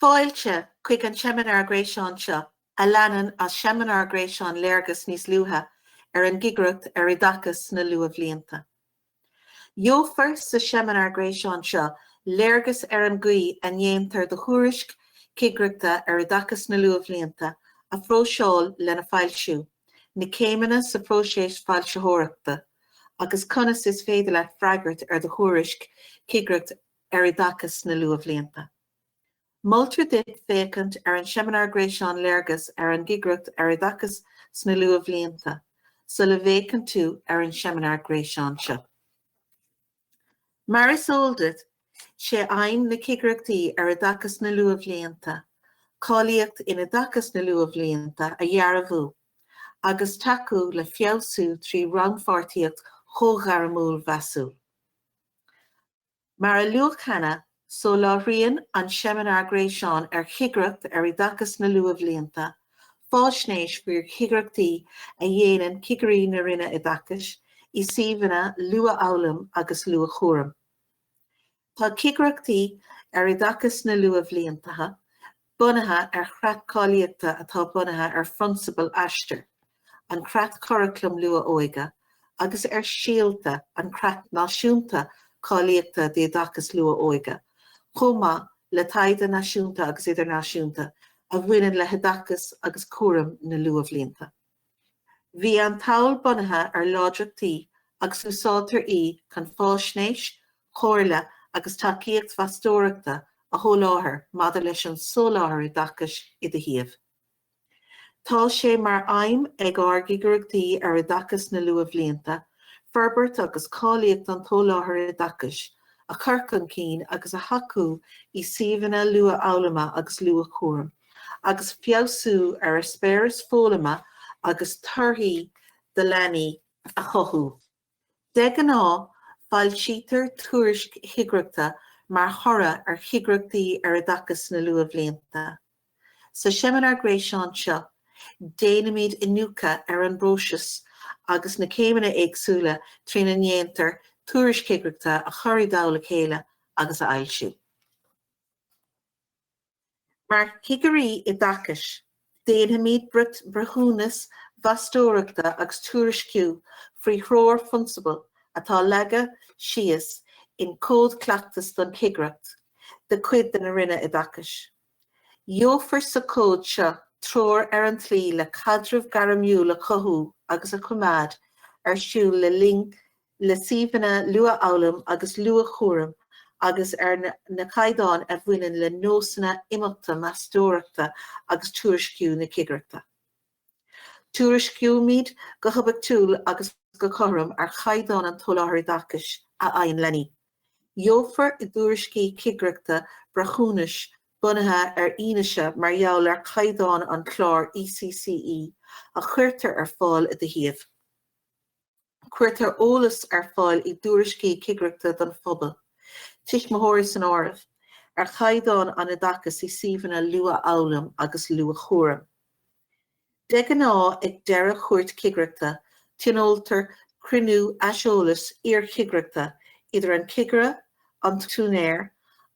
Fáilte chuig an seimineár gréasáin seo a leanann as seimineár gréasáin Léargas níos luaithe ar an gCigireacht ar Oideachas sna Luathbhlianta. Gheofar sa seimineár gréasáin seo léargas ar an gcaoi a ndéantar do thuairisc chigireachta ar Oideachas na Luathbhlianta a phróiseáil lena foilsiú, na céimeanna sa phróiseas foilsitheoireachta, agus conas is féidir leat freagairt ar do thuairisc chigireachta ar oideachas na luathbhlianta. Moltar duit féachaint ar an seimineár gréasáin Léargas ar an gCigireacht ar Oideachas sna Luathbhlianta sula bhféachann tú ar an seimineár gréasáin seo. Mar is eol duit, sé aidhm na gCigireachtaí ar Oideachas sna Luathbhlianta cáilíocht in oideachas na luathbhlianta a dhearbhú agus tacú le feabhsú trí rannpháirtíocht chomhghairmiúil mheasúil. Mar a luadh cheana, soláthraíonn an seimineár gréasáin ar Chigireacht ar Oideachas na Luathbhlianta faisnéis faoi chigireachtaí a dhéanann Cigirí na Roinne Oideachais i suíomhanna luathfhoghlaim agus luathchúraim. Tá cigireachtaí ar oideachas na luathbhlianta bunaithe ar chreat cáilíochta atá bunaithe ar phrionsabail Aistear, an creat curaclaim luath-óige, agus ar Síolta, an creat náisiúnta cáilíochta d'oideachas luath-óige, chomh maith le taighde náisiúnta agus idirnáisiúnta a bhaineann le hoideachas agus cúram na luathbhlianta. Bhí an tsamhail bunaithe ar láidreachtaí agus úsáidtear í chun faisnéis, comhairle agus tacaíocht mheastóireachta a sholáthar maidir leis an soláthar oideachais i do shuíomh. Tá sé mar aidhm ag ár gcigireachtaí ar oideachas na luathbhlianta forbairt agus cáilíocht an tsoláthair oideachais a chur chun cinn agus a thacú i suíomhanna luathfhoghlama agus luathchúraim. agus feabhsú ar eispéireas foghlama agus torthaí do leanaí a chothú. De ghnáth, foilsítear tuairisc chigireachta mar thoradh ar chigireachtaí ar oideachas sna luathbhlianta. Sa seimineár gréasáin seo, déanaimid iniúchadh ar an bpróiseas agus na céimeanna éagsúla trína ndéantar tuairisc chigireachta a chur i dtoll a chéile agus a fhoilsiú. Mar chigirí oideachais, déanfaimid breithiúnas meastóireachta agus tuairisciú faoi threoir phrionsabal atá leagtha síos in Cód Cleachtas don Chigireacht de chuid de na Roinne Oideachais. Gheofar sa Chód seo treoir ar an tslí le caidreamh gairmiúil a chothú agus a choimeád ar siúl le linn le suíomhanna luathfhoghlaim agus luathchúraim agus ar na caighdeáin a bhaineann le nósanna imeachta meastóireachta agus tuairisciú na cigireachta. Tuairiscímid go hoibiachtúil agus go cothrom ar chaighdeán an tSoláthair Oideachais a fhaigheann leanaí. Gheofar i dtuairiscí cigireachta breithiúnais bunaithe ar fhianaise mar gheall ar chaighdeán an chláir ECCE a chuirtear ar fáil i do shuíomh. Cuirtear eolas ar fáil i dtuairiscí cigireachta don phobal, tuismitheoirí san áireamh, ar chaighdeán an oideachais i suíomhanna luathfhoghlaim agus luathchúraim. De ghnáth ag deireadh chuairt cigireachta tionóltar cruinniú aiseolais iarchigireachta idir an cigire, an t-úinéir,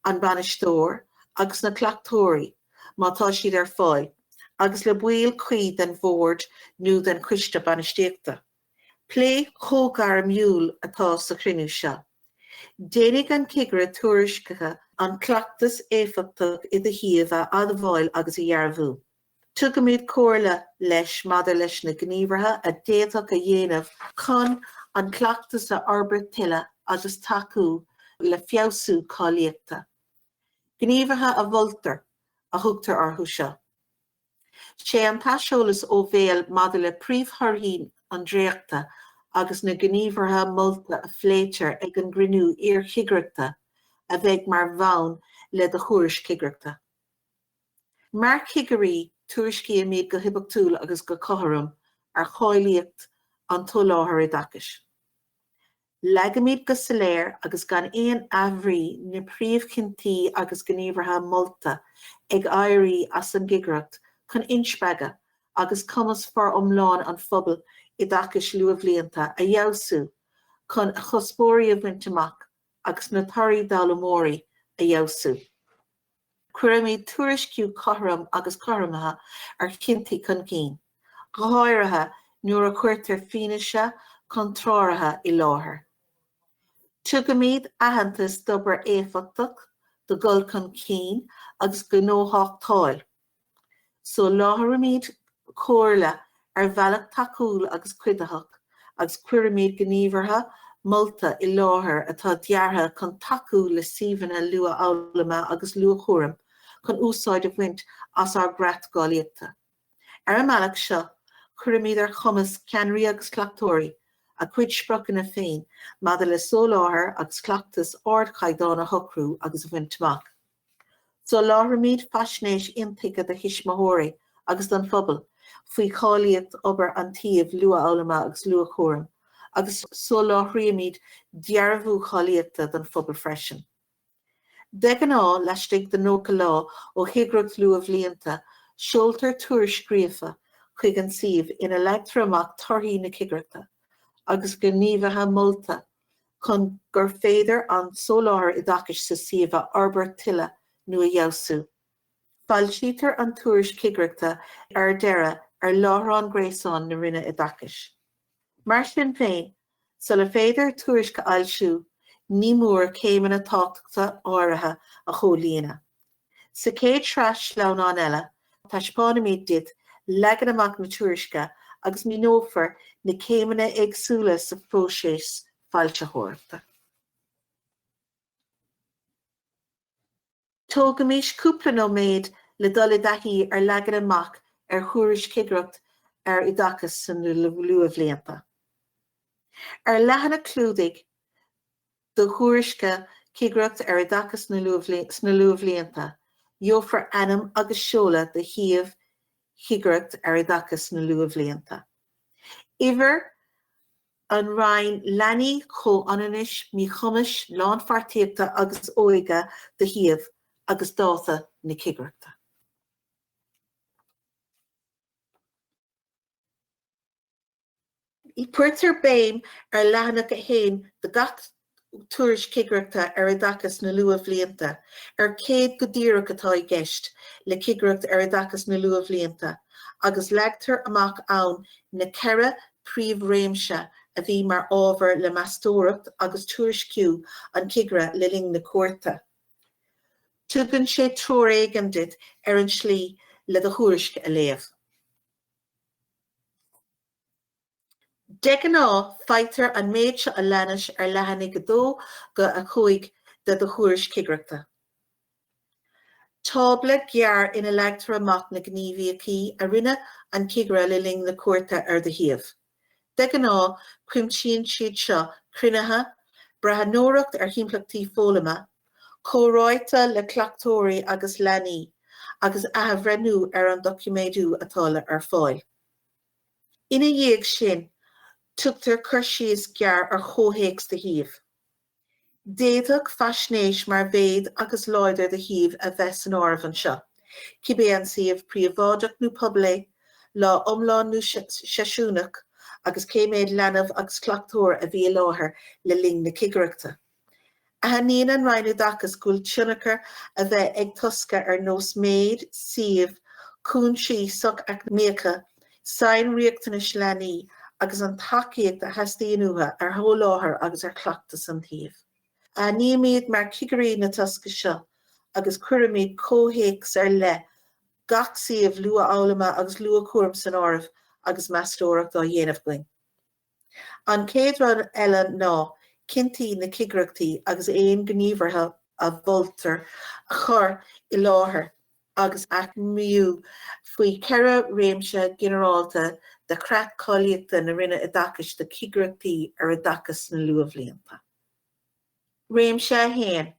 an bainisteoir agus na cleachtóirí, má tá siad ar fáil, agus le baill cuí den bhord nó den choiste bainistíochta. Plé comhghairmiúil atá sa chruinniú seo. Déanfaidh an cigire tuairiscithe an cleachtas éifeachtach i do shuíomh a admháil agus a dhearbhú. Tugaimid comhairle leis maidir leis na gníomhartha a d'fhéadfaí a dhéanamh chun an cleachtas a fhorbairt tuilleadh agus tacú le feabhsú cáilíochta. Gníomhartha a mholtar, a thugtar orthu seo. Sé an t-aiseolas ó bhéal maidir le príomhthorthaí an dréachta agus na gníomhartha molta a phléitear ag an gcruinniú iarchigireachta a bheidh mar bhonn le do thuairisc chigireachta. Mar chigirí, tuairiscímid go hoibiachtúil agus go cothrom ar cháilíocht an tsoláthair oideachais. Leagaimid go soiléir agus gan aon athbhrí na príomhchinntí agus gníomhartha molta ag éirí as an gCigireacht chun inspreagadh agus cumas foriomlán an phobail oideachais luathbhlianta a fheabhsú chun a chuspóirí a bhaint amach agus na torthaí d'fhoghlaimeoirí a fheabhsú. Cuirimid tuairisciú cothrom agus cothromaithe ar chinntí chun cinn, go háirithe nuair a chuirtear fianaise chontrártha i láthair. Tugaimid aitheantas d'obair éifeachtach, do dhul chun cinn agus gnóthachtáil Soláthraímid comhairle ar bhealach tacúil agus cuiditheach agus cuirimid gníomhartha molta i láthair atá deartha chun tacú le suíomhanna luathfhoghlama agus luathchúraim chun úsáid a bhaint as ár gcreat gcáilíochta. Ar an mbealach seo, cuirimid ar chumas ceannairí agus cleachtóirí a gcuid spriocanna féin maidir le soláthar agus cleachtas ardchaighdeáin a shocrú agus a bhaint amach. Soláthraímid faisnéis intuigthe do thuismitheoirí agus don phobal faoi cháilíocht obair an tsuímh luathfhoghlama agus luathchúraim agus soláthraímid dearbhú cáilíochta don phobal freisin. De ghnáth, laistigh de 90 lá ó chigireacht luathbhlianta, seoltar tuairisc scríofa chuig an suíomh ina leagtar amach torthaí na cigireachta agus gníomhartha molta chun gur féidir an soláthar oideachais sa suíomh a fhorbairt tuilleadh nó a fheabhsú. Foilsítear an tuairisc chigireachta ar deireadh ar láithreán gréasáin na Roinne Oideachais. Mar sin féin, sula féidir tuairisc a fhoilsiú, ní mór céimeanna tábhachtacha áirithe a chomhlíonadh, Sa chéad sraith sleamhnán eile, taispeánfaimid duit leagan amach na tuairisce agus míneofar na céimeanna éagsúla sa phróiseas foilsitheoireachta. Tógaimis cúpla nóiméad le dul i dtaithí ar leagan amach ar thuairisc Chigireacht ar Oideachas sna Luathbhlianta. Ar leathanach clúdaigh, do thuairisce cigireacht ar oideachas sna luathbhlianta. Gheofar ainm agus seoladh do shuíomh cigireacht ar oideachas sna luathbhlianta. Uimhir An Roinn Leanaí, Comhionannais, Míchumais, Lánpháirtíochta agus Óige do shuíomh agus dáta na cigireachta. Cuirtear béim ar leathanach 1 de gach Tuairisc Cigireachta ar Oideachas na Luathbhlianta ar céard go díreach atá i gceist le Cigireacht ar Oideachas na Luathbhlianta agus leagtar amach ann na ceithre príomhréimse a bhí mar ábhar le meastóireacht agus tuairisciú an chigire le linn na cuairte. Tugann sé treoir éigin duit ar an tslí le do thuairisc a léamh. De ghnáth, faightear an méid seo a leanas ar leathanaigh 2-5 de do Thuairisc Chigireachta. Tábla gearr ina leagtar amach na gníomhaíochtaí a rinne an cigire le linn na cuairte ar do shuíomh. De ghnáth cuimsíonn siad seo cruinnithe, breathnóireacht ar thimpleachtaí foghlama, comhráite le cleachtóirí agus leanaí, agus athbhreithniú ar an doiciméadú atá ar fáil. Ina dhiaidh sin tugtar cur síos gearr ar chomhthéacs do shuímh. D'fhéadfadh faisnéis mar mhéad agus láthair do shuímh a bheith san áireamh anseo, cibé an suíomh príobháideach nó pobail é, lá iomlán nó seisiúnach, agus cé mhéad leanbh agus cleachtóir a bhí i láthair le linn na cigireachta. Aithníonn an Roinn Oideachais go bhfuil tionchar a bheith ag tosca ar nós méid, suíomh, cúinsí soch-eacnamaíocha, sainriachtanais leanaí agus an tacaíocht a theastaíonn uathu ar sholáthar agus ar chleachtas an tsuímh. Aithnímid mar chigirí na tosca seo agus cuirimid comhthéacs ar leith gach suíomh luathfhoghlama agus luathchúraim san áireamh agus meastóireacht á déanamh againn. An chéad rud eile ná cinntí na cigireachta agus aon gníomhartha a mholtar a chur i láthair agus a aicmiú faoi cheithre réimse ghinearálta de Chreat Cáilíochta na Roinne Oideachais do Chigireachtaí ar Oideachas sna Luathbhlianta. Réimse 1,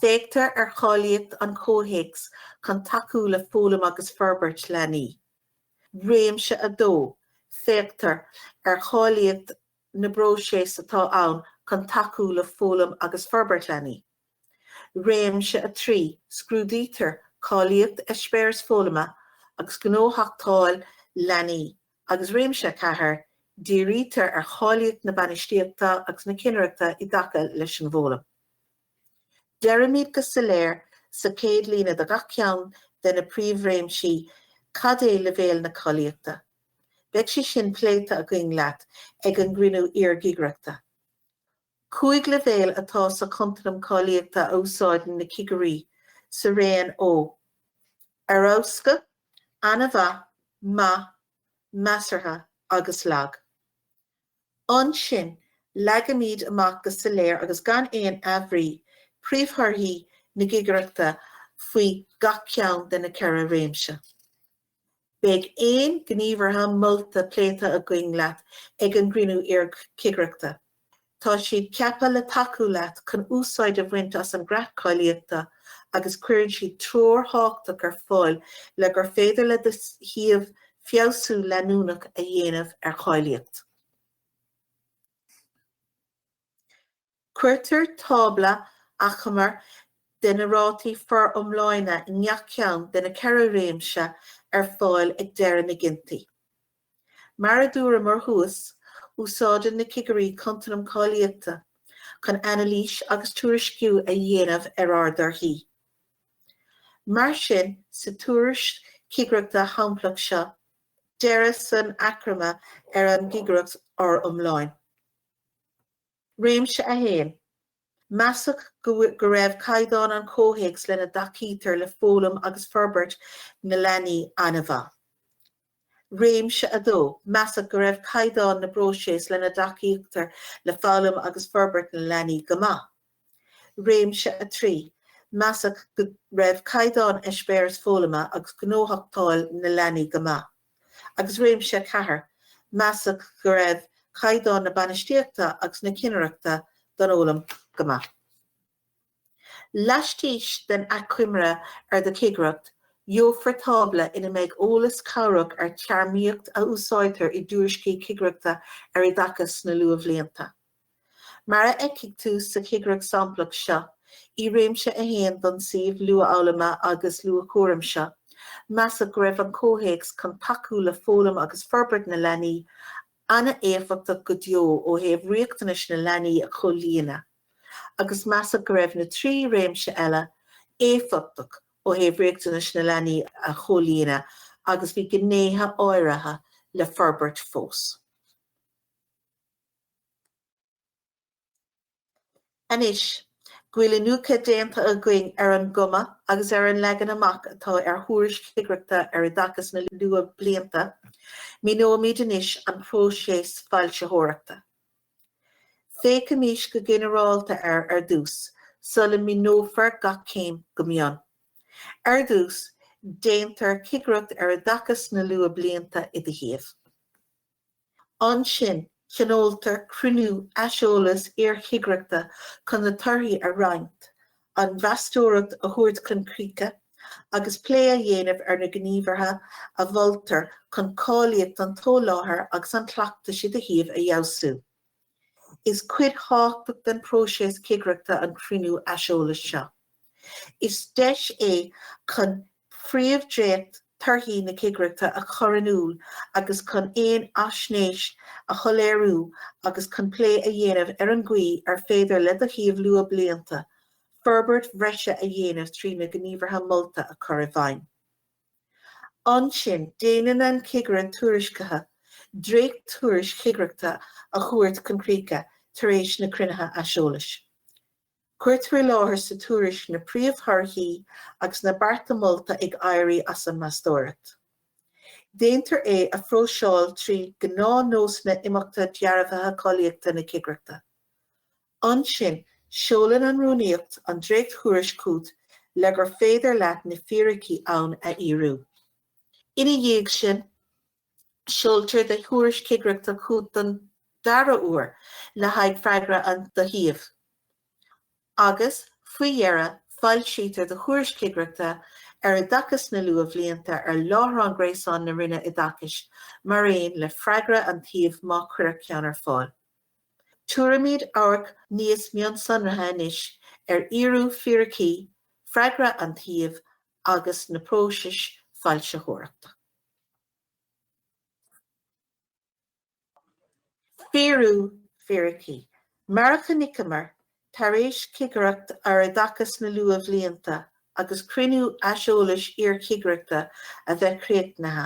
Féachtar ar cháilíocht an chomhthéacs chun tacú le foghlaim agus forbairt leanaí. réimse 2, féachtar ar cháilíocht na bpróiseas atá ann chun tacú le foghlaim agus forbairt leanaí, réimse 3, scrúdaítear cáilíocht eispéiris foghlama agus gnóthachtáil leanaí, agus réimse 4, dírítear ar cháilíocht na bainistíochta agus na ceannaireachta i dtaca leis an bhfoghlaim. Deirimid go soiléir sa chéad líne de gach ceann de na príomhréimsí cad é leibhéal na cáilíochta. Beidh sé sin pléite againn leat ag an gcruinniú iarchigireachta. Cúig leibhéal atá sa chontanam cáilíochta a úsáideann na cigirí sa raon ó Ar Fheabhas go, An-mhaith, Maith, Measartha agus Lag. Ansin, leagaimid amach go soiléir agus gan aon athbhrí, príomhthorthaí na cigireachta faoi gach ceann de na ceithre réimse. Beidh aon ghníomhartha molta pléite againn leat ag an gcruinniú iarchigireachta. Tá siad ceaptha le tacú leat chun úsáid a bhaint as an gCreat Cáilíochta agus cuireann siad treoir thábhachtach ar fáil le gur féidir le do shuíomh feabhsú leanúnach a dhéanamh ar cháilíocht. Cuirtear tábla achomair de na rátaí foriomlána i ngach ceann de na ceithre réimse ar fáil ag deireadh na gcinntí. Mar a dúramar thuas, úsáideann na cigirí contanam cáilíochta chun anailís agus tuairisciú a dhéanamh ar ár dtorthaí. Mar sin, sa tuairisc chigireachta shamplach seo, deirtear san achoimre ar an gcigireacht fhoriomlán. Réimse 1, Measadh go raibh caighdeán an chomhthéacs lena dtacaítear le foghlaim agus forbairt na leanaí an-mhaith. Réimse 2, Measadh go raibh caighdeán na bpróiseas lena dtacaítear le foghlaim agus forbairt na leanaí go maith. Réimse 3, Measadh go raibh caighdeán eispéiris foghlama agus gnóthachtáil na leanaí go maith. Agus réimse 4, Measadh go raibh caighdeán na bainistíochta agus na cinnireachta don fhoghlaim go maith. Laistigh den achoimre ar do chigireacht, gheofar tábla ina mbeidh eolas cabhrach ar téarmaíocht a úsáidtear i dtuairiscí cigireachta ar oideachas sna luathbhlianta. Mar a fheicfidh tú sa chigireacht samplach seo, i Réimse 1 don suíomh Luathfhoghlama agus Luathchúraim seo, measadh go raibh an comhthéacs chun tacú le foghlaim agus forbairt na leanaí an-éifeachtach go deo ó thaobh riachtanais na leanaí a chomhlíonadh. agus measadh go raibh na trí réimse eile éifeachtach ó thaobh riachtanais na leanaí a chomhlíonadh agus bhí gnéithe áirithe le forbairt fós. Anois go bhfuil iniúchadh déanta againn ar an gcuma agus ar an leagan amach atá ar thuairisc chigireachta ar oideachas na luathbhlianta, míneoimid anois an próiseas foilsitheoireachta. Féachaimis go ginearálta air ar dtús sula míneofar gach céim go mion. Ar dtús, déantar cigireacht ar oideachas na luathbhlianta i do shuíomh. Ansin, tionóltar cruinniú aiseolais iarchigireachta chun na torthaí a roinnt an mheastóireacht a thabhairt chun críche agus plé a dhéanamh ar na gníomhartha a mholtar chun cáilíocht an tsoláthair agus an chleachtais i do shuíomh a fheabhsú. Is cuid thábhachtach den phróiseas cigireachta an cruinniú aiseolais seo. Is deis é chun phríomhdhréacht torthaí na cigireachta a chur in iúl agus chun aon fhaisnéis a shoiléiriú agus chun plé a dhéanamh ar an gcaoi ar féidir le do shuíomh luathbhlianta forbairt bhreise a dhéanamh trí na gníomhartha molta a chur i bhfeidhm. Ansin, déanann an Cigire Tuairiscithe dréacht-tuairisc chigireachta a thabhairt chun críche tar éis na cruinnithe aiseolais. Cuirtear i láthair sa tuairisc na príomhthorthaí agus na bearta molta ag éirí as an meastóireacht. Déantar é a phróiseáil trí gnáthnósanna imeachta dearbhaithe cáilíochta na cigireachta. Ansin, seolann an Rúnaíocht an dréacht-tuairisc chugat le gur féidir leat na fíricí ann a fhíorú. Ina dhiaidh sin. Seoltar do thuairisc chigireachta chugat don dara huair le haghaidh freagra do shuíomh, agus faoi dheireadh foilsítear do thuairisc chigireachta ar oideachas sna luathbhlianta ar láithreán gréasáin na Roinne Oideachais mar aon le freagra an tsuímh má cuireadh ceann ar fáil. Tabharfaimid amharc níos mionsonraithe anois ar fhíorú fíricí freagra an tsuímh agus na próisis foilsitheoireachta. Fíorú fíricí. Mar a chonaiceamar, tar éis cigireacht ar oideachas sna luathbhlianta agus cruinniú aiseolais iarchigireachta a bheith críochnaithe,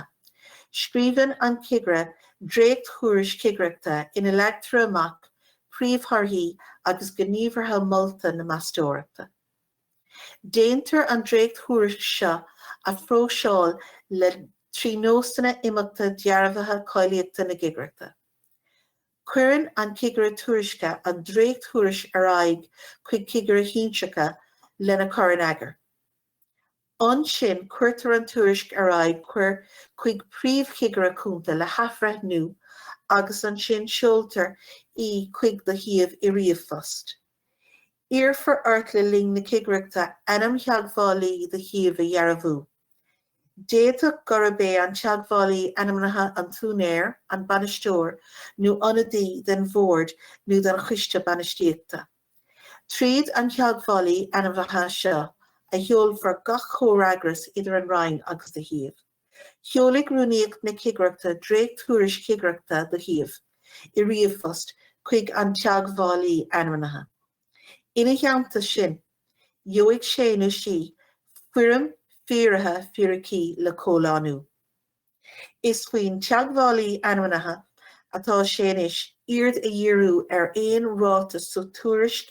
scríobhann an cigire dréacht-thuairisc chigireachta ina leagtar amach príomhthorthaí agus gníomhartha molta na meastóireachta. Déantar an dréacht-thuairisc seo a phróiseáil le trí nósanna imeachta dearbhaithe cáilíochta na cigireachta. Cuireann an Cigire Tuairiscithe an dréacht-thuairisc ar aghaidh chuig cigire shinsearach lena cur in eagar. Ansin cuirtear an tuairisc ar aghaidh chuir chuig Príomh-Chigire Cúnta le hathbhreithniú agus ansin seoltar í chuig do shuíomh i ríomhphost. Iarrfar ort le linn na cigireachta ainm theagmhálaí do shuímh a dhearbhú. D'fhéadfadh gurb é an teagmhálaí ainmnithe an t-úinéir, an bainisteoir nó ionadaí den bhord nó den choiste bainistíochta. Tríd an teagmhálaí ainmnithe seo a sheolfar gach comhfhreagras idir an Roinn agus do shuíomh. Seolfaidh Rúnaíocht na Cigireachta dréacht-Thuairisc Chigireachta do Shuíomh, i ríomhphost chuig an Teagmhálaí Ainmnithe. Ina theannta sin, gheobhaidh sé nó sí Foirm Fíoraithe Fíricí le comhlánú. Is faoin Teagmhálaí Ainmnithe atá sainithe aird a dhíriú ar aon ráiteas sa tuairisc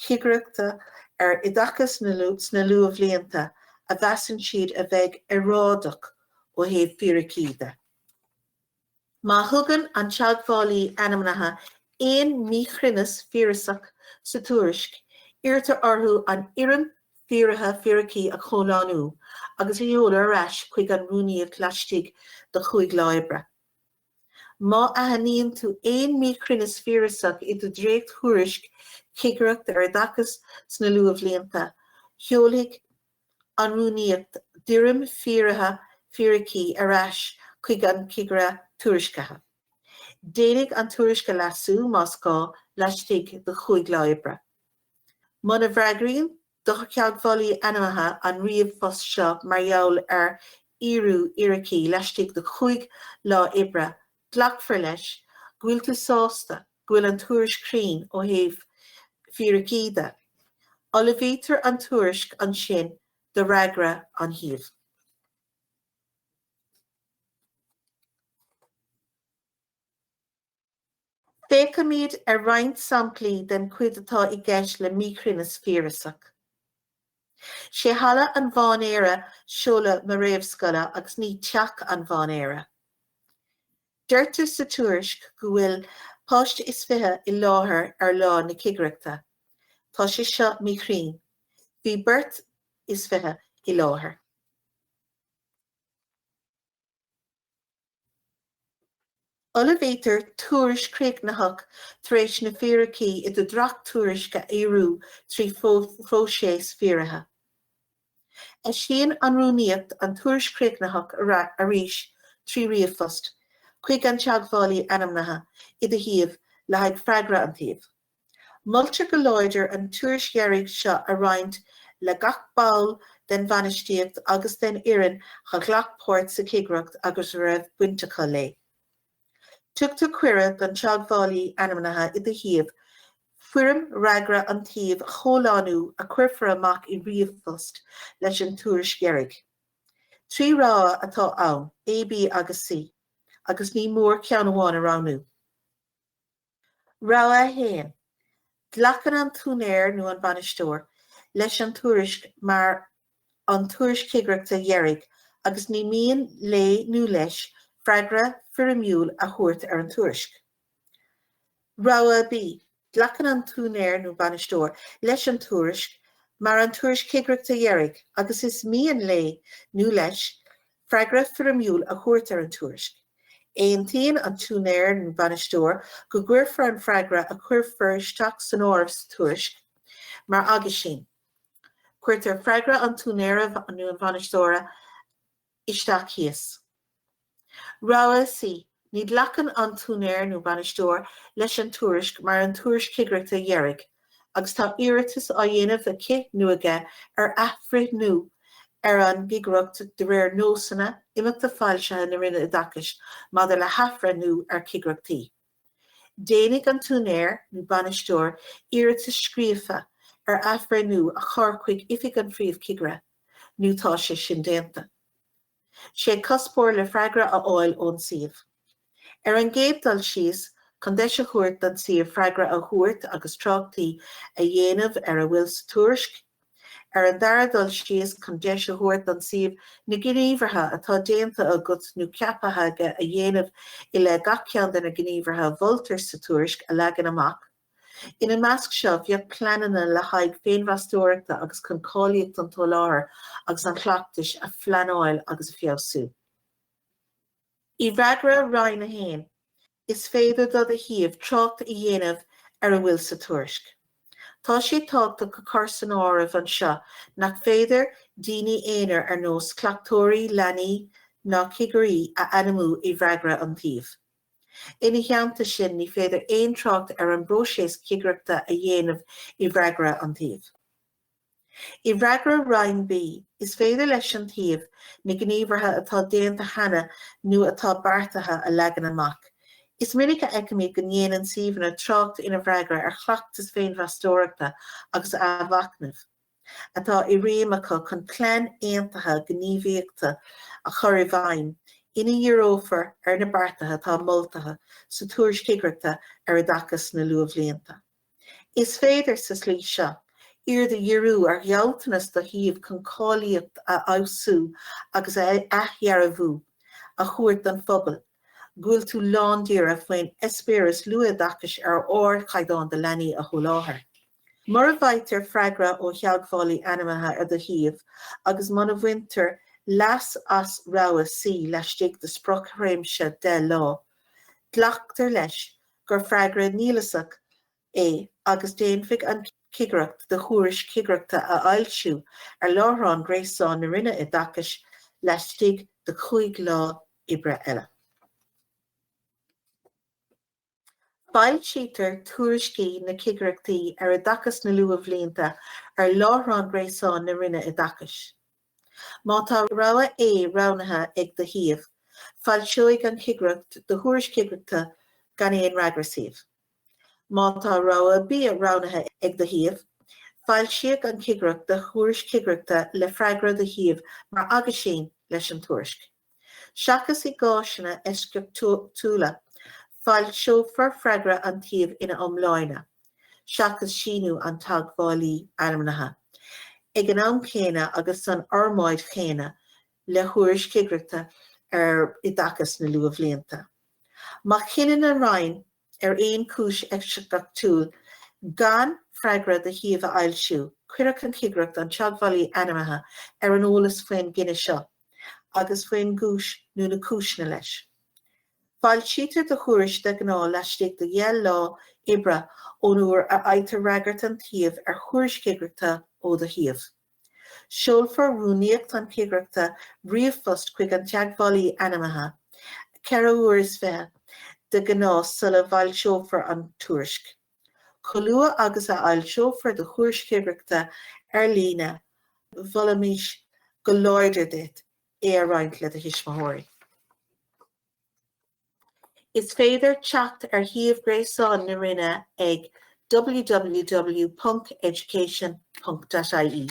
chigireachta ar oideachas sna luathbhlianta a mheasann siad a bheith earráideach ó thaobh fíricí de. Má thugann an Teagmhálaí Ainmnithe aon míchruinneas fíorasach sa tuairisc, iarrtar orthu an fhoirm fíoraithe fíricí a chomhlánú agus a sheoladh ar ais chuig an Rúnaíocht laistigh de chúig lá oibre. Má aithníonn tú aon míchruinneas fíorasach i do dréacht-thuairisc Chigireacht ar Oideachas sna luathbhlianta, seolfaidh an Rúnaíocht d'fhoirm fíoraithe fíricí ar ais chuig an Cigire Tuairiscithe. Déanfar an tuairisc a leasú, más gá, laistigh de chúig lá oibre. Muna bhfreagraíonn do Theagmhálaí Ainmnithe an ríomhphost seo mar gheall ar fhíorú fhíricí laistigh de chúig lá oibre, glacfar leis go bhfuil tú sásta go bhfuil an tuairisc cruinn ó thaobh fíricí de. Ullmhaítear an tuairisc ansin do fhreagra an tsuímh. Féachaimid ar roinnt samplaí den chuid atá i gceist le míchruinneas fíorasach. 'Sé Halla an Mhainéir seoladh mo réamhscoile agus ní Teach an Mhainéir. Deirtear sa tuairisc go bhfuil páiste is fiche i láthair ar lá na cigireachta. Tá sé seo míchruinn. Bhí beirt is fiche i láthair. Ullmhaítear tuairisc chríochnaitheach tar éis na fíricí i do dhréacht-tuairisc a fhíorú trí phróiseas fíoraithe. Eisíonn an Rúnaíocht an tuairisc chríochnaitheach arís trí ríomhphost chuig an teagmhálaí ainmnithe i do shuíomh le haghaidh freagra an tsuímh. Moltar go láidir an tuairisc dheiridh seo a roinnt le gach ball den bhainistíocht agus den fhoireann a ghlac páirt sa chigireacht agus a raibh baint acu léi. Tugtar cuireadh don teagmhálaí ainmnithe i do shuíomh foirm fhreagra an tsuímh a chomhlánú a chuirfear amach i ríomhphost leis an tuairisc dheiridh. Trí rogha atá ann, A, B agus C, agus ní mór ceann amháin a roghnú. Rogha 1, Glacann an t-úinéir nó an bainisteoir leis an tuairisc mar an tuairisc chigireachta dheiridh agus ní mian léi nó leis freagra foirmiúil a thabhairt ar an tuairisc. Rogha B, Glacann an t-úinéir nó bainisteoir leis an tuairisc mar an tuairisc chigireachta dheiridh agus is mian léi nó leis freagra foirmiúil a thabhairt ar an tuairisc. Aontaíonn an t-úinéir nó an bainisteoir, go gcuirfear an freagra a chuirfear isteach san áireamh sa tuairisc mar aguisín. Cuirtear freagra an úinéara nó an bhainisteora isteach thíos. Rogha C. Ní ghlacann an t-úinéir nó bainisteoir leis an tuairisc mar an tuairisc chigireachta dheiridh agus tá iarratas á dhéanamh aici nó aige ar athbhreithniú ar an gcigireacht de réir nósanna imeachta foilsithe na Roinne Oideachais maidir le hathbhreithniú ar chigireachtaí. Déanfaidh an t-úinéir nó bainisteoir iarratas scríofa ar athbhreithniú a chur chuig Oifig an Phríomhchigire nó tá sé sin déanta. dhá chuspóir le freagra a fháil ón suíomh. Ar an gcéad dul síos, chun deis a thabhairt don suíomh freagra a thabhairt agus tráchtaí a dhéanamh ar a bhfuil sa tuairisc. Ar an dara dul síos, chun deis a thabhairt don suíomh na gníomhartha atá déanta agat nó ceaptha aige a dhéanamh i leith gach ceann de na gníomhartha a mholtar sa tuairisc a leagan amach. Ina measc seo bheadh pleananna le haghaidh féinmheastóireachta agus chun cáilíocht an tsoláthair agus an chleachtais a phleanáil agus a fheabhsú. I bhfreagra Roinn A, is féidir do do shuíomh trácht a dhéanamh ar a bhfuil sa tuairisc. Tá sé tábhachtach a chur san áireamh anseo nach féidir daoine aonair ar nós cleachtóirí leanaí ná cigirí a ainmniú i bhfreagra an tsuímh. Ina theannta sin ní féidir aon trácht ar an bpróiseas cigireachta a dhéanamh i bhfreagra an tsuímh. I bhfreagra Roinn B, is féidir leis an suíomh na gníomhartha atá déanta cheana nó atá beartaithe a leagan amach. Is minic a fheicimid go ndéanann suíomhanna trácht ina bhfreagra ar chleachtas féinmheastóireachta agus athmhachnaimh. atá i réim acu chun plean aontaithe gníomhaíochta a chur i bhfeidhm ina ndíreofar ar na beartaithe atá moltaithe sa Tuairisc Chigireachta ar Oideachas sna Luathbhlianta. Is féidir, sa slí seo, aird a dhíriú ar ghealltanas do shuíomh chun cáilíocht a fheabhsú agus athdhearbhú a thabhairt don phobal go bhfuil tú lándáiríre faoin eispéireas luathoideachais ar ardchaighdeán do leanaí a sholáthar. Mura bhfaightear freagra ó theagmhálaí ainmnithe ar do shuíomh agus muna bhaintear leas as rogha C laistigh de sprioc-thréimhse 10 lá, glactar leis gur freagra nialasach é agus déanfaidh an Chigireacht do thuairisc chigireachta a fhoilsiú ar láithreán gréasáin na Roinne Oideachais laistigh de chúig lá oibre eile. Foilsítear tuairiscí na Cigireachtaí ar Oideachas na Luathbhlianta ar láithreán gréasáin na Roinne Oideachais. Má tá rogha A roghnaithe ag do shuíomh, foilseoidh an Chigireacht do Thuairisc Chigireachta gan aon fhreagra suímh. Má tá rogha B roghnaithe ag do shuíomh, foilseoidh an Chigireacht do Thuairisc Chigireachta le freagra do shuímh mar aguisín leis an tuairisc. Seachas i gcáiseanna eisceachtúla, foilseofar freagra an tsuímh ina iomláine, seachas síniú an teagmhálaí ainmnithe, ag an am céanna agus san fhormáid chéanna le Thuairisc Chigireachta ar Oideachas na Luathbhlianta. Má chinneann an Roinn ar aon cúis eisceachtúil gan freagra do shuíomh a fhoilsiú, cuirfidh an Chigireacht an Teagmhálaí Ainmnithe ar an eolas faoin gcinneadh seo agus faoin gcúis nó na cúiseanna leis. Foilsítear do thuairisc de ghnáth laistigh de dheich lá oibre ón uair a fhaightear fhreagairt an tsuímh ar Thuairisc Chigireachta ó do shuíomh. Seolfaidh rúnaíocht na cigireachta ríomhphost chuig an teagmhálaí ainmnithe, ceithre uair is fiche de ghnáth sula bhfoilseofar an tuairisc. Chomh luath agus a fhoilseofar do Thuairisc Chigireachta ar líne, mholfaimis go láidir duit é a roinnt le do thuismitheoirí. Is féidir teacht ar shuíomh gréasáin na Roinne ag www.education.ie.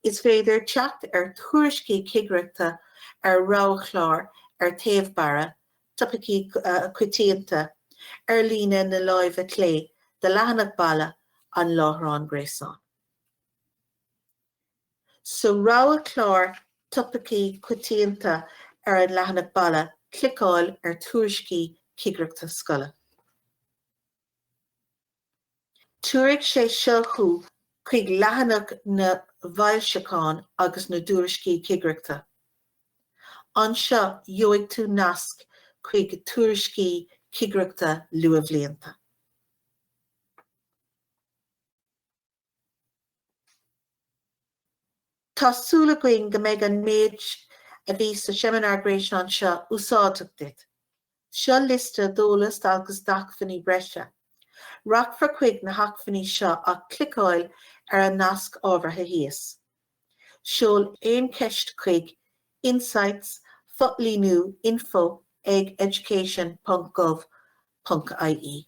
Is féidir teacht ar thuairiscí cigireachta ar roghchlár ar taobh-bharra Topaicí Coitianta ar líne na láimhe clé de leathanach baile an láithreáin gréasáin. Sa roghchlár topaicí coitianta ar an leathanach baile, cliceáil ar Tuairiscí Cigireachta Scoile. Tabharfaidh sé seo thú chuig leathanach na bhfoilseachán agus na dtuairiscí cigireachta. Anseo gheobhaidh tú nasc chuig Tuairiscí Cigireachta Luathbhlianta. Tá súil againn go mbeidh an méid a bhí sa seimineár gréasáin seo úsáideach duit. Seo liosta d'eolas agus d'acmhainní breise. Rachfar chuig na hacmhainní seo ach cliceáil ar an nasc ábhartha thíos. Seol aon cheist chuig insights, fo-líniú, info ag education.gov.ie.